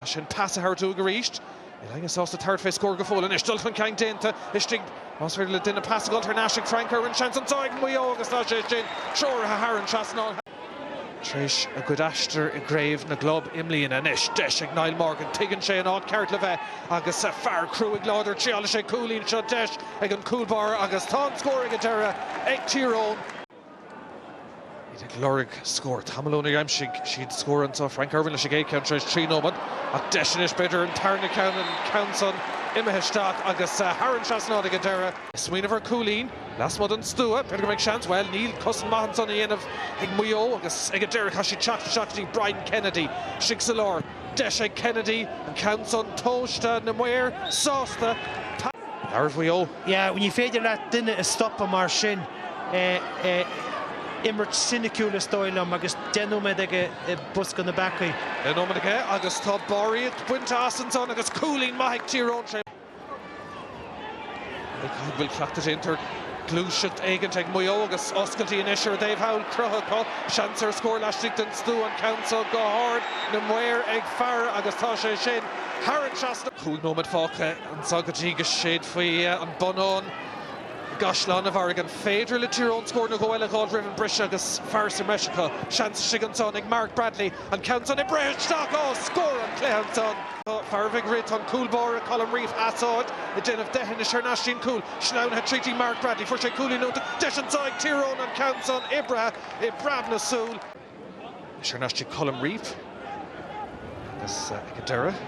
pas a thabhairt uaidh arís. Níl éinne sásta tabhairt fé scór go fóill anois. Dul chun cinn déanta istigh. Más féidir le duine pas a dh'fháil thar n-ais ag Frank Irwin seans anseo ag Maigh Eo agus tá sé sin treoraithe thar an trasnán. Tar éis a gcuid aistir i gcraobh na gclub i mbliana anois, deis ag Niall Morgan. Tuigeann sé an áit ceart le bheith agus fear cruaigh láidir ag triáil leis an gcúilín seo. Deis ag an gcúl báire agus tá an scór ag an deireadh ag Tír Eoghain. Iad ag lorg scór. Tamall óna aimsigh siad scór anseo. Frank Irwin leis an gcéad ceann tar éis trí nóiméad. Ach deis anois b'fhéidir an tarna ceann, an ceann san imithe isteach agus thar an trasnán ag an deireadh. Ag smaoineamh ar cúilín lasmuigh den stua. B'fhéidir go mbeidh seans. Bhuel níl. Cosaint maith ansan á dhéanamh ag Maigh Eo agus ag an deireadh chaithfidh siad teacht isteach go dtí Brian Kennedy istigh sa lár. Deis ag Kennedy, an ceann san tomhaiste, na maoir sásta. Labhairt Mhaigh Eo. Yeah, ní féidir leat duine a stopadh mar sin, imirt soiniciúil is dóigh liom agus deich nóiméad aige i bosca na bpeacaí. Deich nóiméad aige agus tá barraíocht bainte as ansan agus cúilín maith ag Tír Eoghain tré Mhic Ádhaimh. An bhfuil cleachtadh déanta ar gluaiseacht éigin ag Maigh Eo agus oscailtí anois ar a dtaobh thall. Croitheadh acu, seans ar scór laistigh den stua, an ceann seo go hard, na maoir ag faire agus tá sé sin thar an trasnán. Cúig nóiméad fágtha. Anseo go dtí go séidfaí an bonnán i gCaisleán an Bharraigh. An féidir le Tír Eoghain scór nó dhó eile a dh'fháil roimh an briseadh agus fear sa mbreis acu? Seans istigh ansan ag Mark Bradley. An ceann san oibrithe isteach! Á, scór an cluiche ansan! Tá farbhogha Bradley, tá an cúl báire Colm Reape as áit, ag déanamh deithinis thar n-ais sa chúl sleamhnaithe tríd ag Mark Bradley. Fuair sé cúilín iontach. Deis anso ag Tír Eoghain an ceann san oibrithe i bpreab na súl. Thar n-ais chuig Colm Reape agus ag an deireadh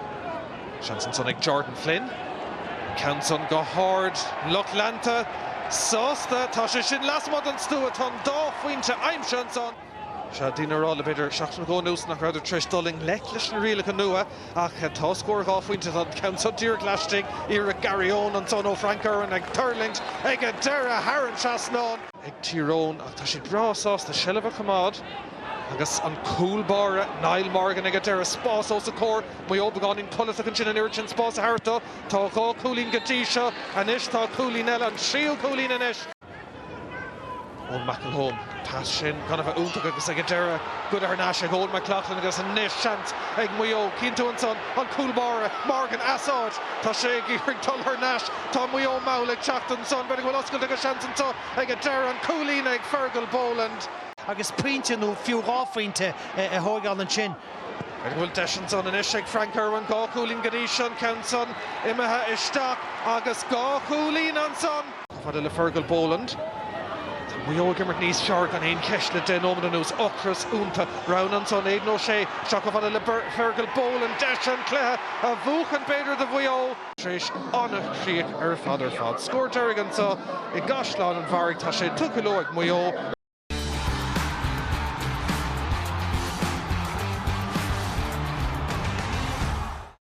seans ansan ag Jordan Flynn. An ceann san go hard, an lucht leanta sásta. Tá sé sin lasmuigh den stua, tá an dá phointe aimsithe ansan. Tá daoine ag rá le b'fhéidir seachtain nó dhó anuas nach rabhdar tar éis dul i ngleic leis na rialacha nua ach tá scór dhá phointe, tá an ceann san díreach laistigh, iarracht Gary Owen ansan ó Frank Irwin ag tuirlingt ag an deireadh thar an trasnán. ag Tír Eoghain ach tá siad breá sásta seilbh a choimeád agus an cúl báire Niall Morgan ag an deireadh. Spás os a chomhair, Maigh Eo beagáinín codlatach ansin an oiread sin spáis a thabhairt dó. Tá dhá chúilín go dtí seo. Anois tá cúilín eile, an tríú cúilín anois, ón McElholm pass sin gan a bheith iontach agus ag an deireadh goidte thar n-ais ag Eoin McLaughlin agus anois seans ag Maigh Eo. Cíonn tú ansan an cúl báire Morgan as áit, tá sé ag iarraidh dul thar n-ais Tá Maigh Eo mall ag teacht ansan, b'fhéidir go bhfuil oscailt agus seans anseo ag an deireadh. An cúilín ag Fergal Boland. agus pointe nó fiú dhá phointe a thóigeáil ansin. B'fhéidir go bhfuil deis ansan anois ag Frank Irwin? Dhá chúilín go dtí seo, an ceann san imithe isteach agus dhá chúilín ansan. Chomh fada le Fergal Boland. Tá Maigh Eo ag imirt níos fearr gan aon cheist le deich nóiméad anuas. Ocras ionta. Rogha ansan Aidan O'Shea isteach chomh fada le Fergal Boland deis an cluiche a bhuachan b'fhéidir do Mhaigh Eo. Tar éis an-chríoch ar fad ar fad. Scór deiridh anseo i gCaisleán an Bharraigh. Tá sé tugtha leo ag Maigh Eo.